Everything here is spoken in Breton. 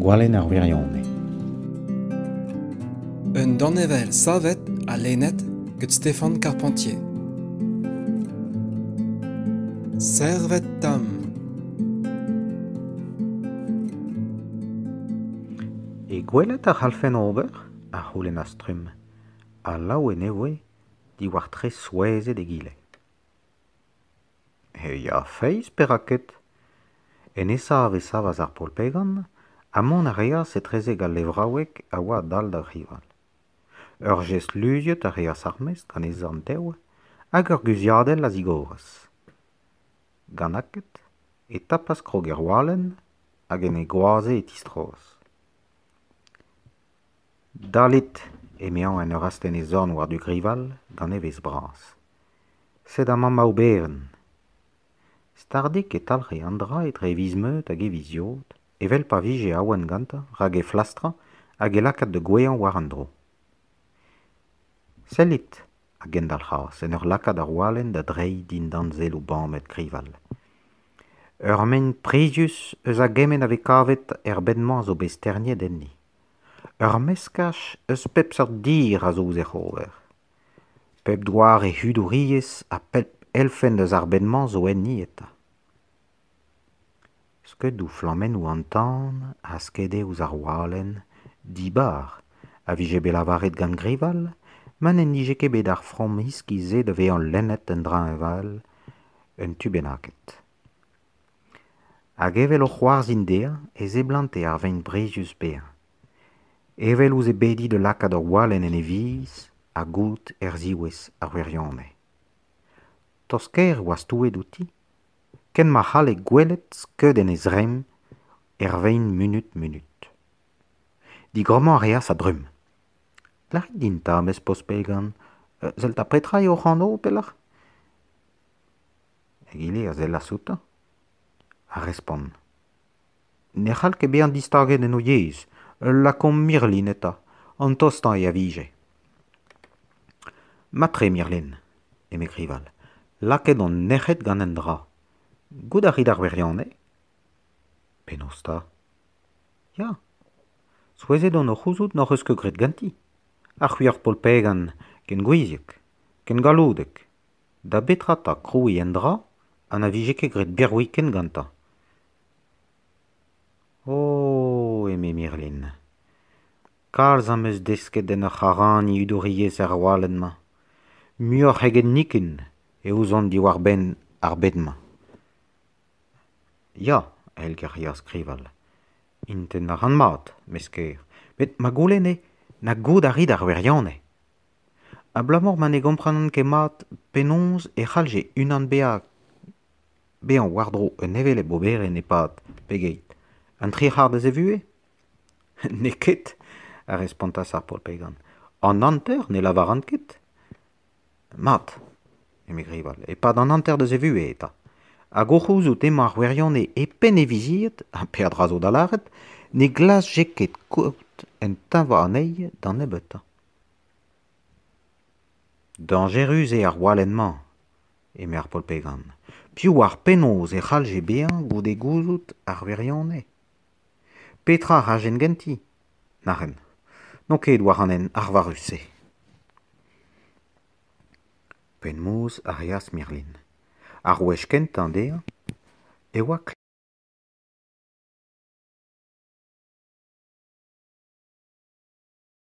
Gwalenn ar wirionez. Un danevell savet ha lennet gant Stéphane Carpentier. Servet tam. E gwelet a c'hallfen ober? a c'houlennas Trum. Alav e nevoe, diwar tre souezhet egile. he ya-feiz perak ket enesa a savas ar polpegan ha mont a reas etrezek al levraoueg a oa a-dal d'ar rival ur jest luziet a reas ar mesk anezhañ tev hag ur guziadell a zigoras gant aked e tapas krog er walenn hag en e goaze e tistroas Dalit, emañ en ur astenn e zorn war-du Grival, gant evezh bras. Sed amañ Maobeven. Stardik e talc'he an dra etre e viz-meud hag e viz-yod, evel pa vije awen gantañ rak he flastrañ hag he lakaat da gouezhañ war an dro. Sellit, a gendalc'has en ur lakaat ar walenn da dreiñ dindan selloù bamet krival. Ur maen prizius eus a gement a vez kavet er bed-mañ a zo bet sterniet enni. Ur meskaj eus pep seurt dir a zo ouzh hec'h ober. Pep doare hudouriezh ha pep elfenn eus ar bed-mañ zo enni eta. Skeudoù flammennoù an tan a skede ouzh ar walenn, dibar, a vije bet lavaret gant Grival ma n'en dije ket bet ar framm iskis-se da vezañ lennet en dreñval un tu bennaket. Hag evel o c'hoarzhin dezhañ e seblante ar vein brizius paeañ. Evel ouzh e bediñ da lakaat ur walenn en e viz ha goût er ziwezh ar wirionez. Tost-kaer e oa stouet outi. ken ma c'halle gwelet skeudenn e zremm er vein munut-munut. Digrammañ a reas a-dremm. Lârit din 'ta, mez poz Pegan, sell 'ta petra eo hoc'h anv pelec'h ? Egile a sellas outañ, ha respont. ne c'hall ket bezañ distaget en o yezh ul lakomp Mirlin eta an tostañ eo a vije mat-tre Mirlin eme Grival lakaet on nec'het gant un dra goût a rit ar wirionez penaos 'ta ya souezhet on o c'houzout n'hoc'h eus ket graet ganti ha c'hwi ur polpegan ken gouiziek ken galloudek Da betra 'ta krouiñ un dra ha na vije ket graet birviken gantañ ? O ! eme Mirlin, kalz am eus desket en ur c'haraniñ hudouriezh er walenn-mañ. Muioc'h eget nikun e ouzon diwar-benn ar bed-mañ. Ya, èl geriañ skrival. Int en a ran mat, mez ker. Met ma goulenne, na goût a rit ar wirionez. Abalamour ma ne gomprenan ket mat penaos e c'hallje unan bezañ war-dro un hevelep oberenn e-pad pegeit ? Un tri c'hard eus e vuhez ? N'eo ket, a respontas ar paotr Pegan. An hanter ne lavaran ket. Mat, eme Grival, e-pad an hanter deus e vuhez eta. Hag o c'houzout emañ ar wirionez e penn e vizied, ha peadra zo da lâret, ne glasje ket kaout un tañva anezhi da nebeutañ. Dañjerus eo ar gwalenn-mañ, eme ar paotr Pegan. Piv oar penaos e c'hallje bezañ goude gouzout ar wirionez ? Petra a rajen ganti ? Nac'hen. N'on ket war an hent arvarus-se. Penaos a reas Mirlin. Ar wech kentañ dezhañ e oa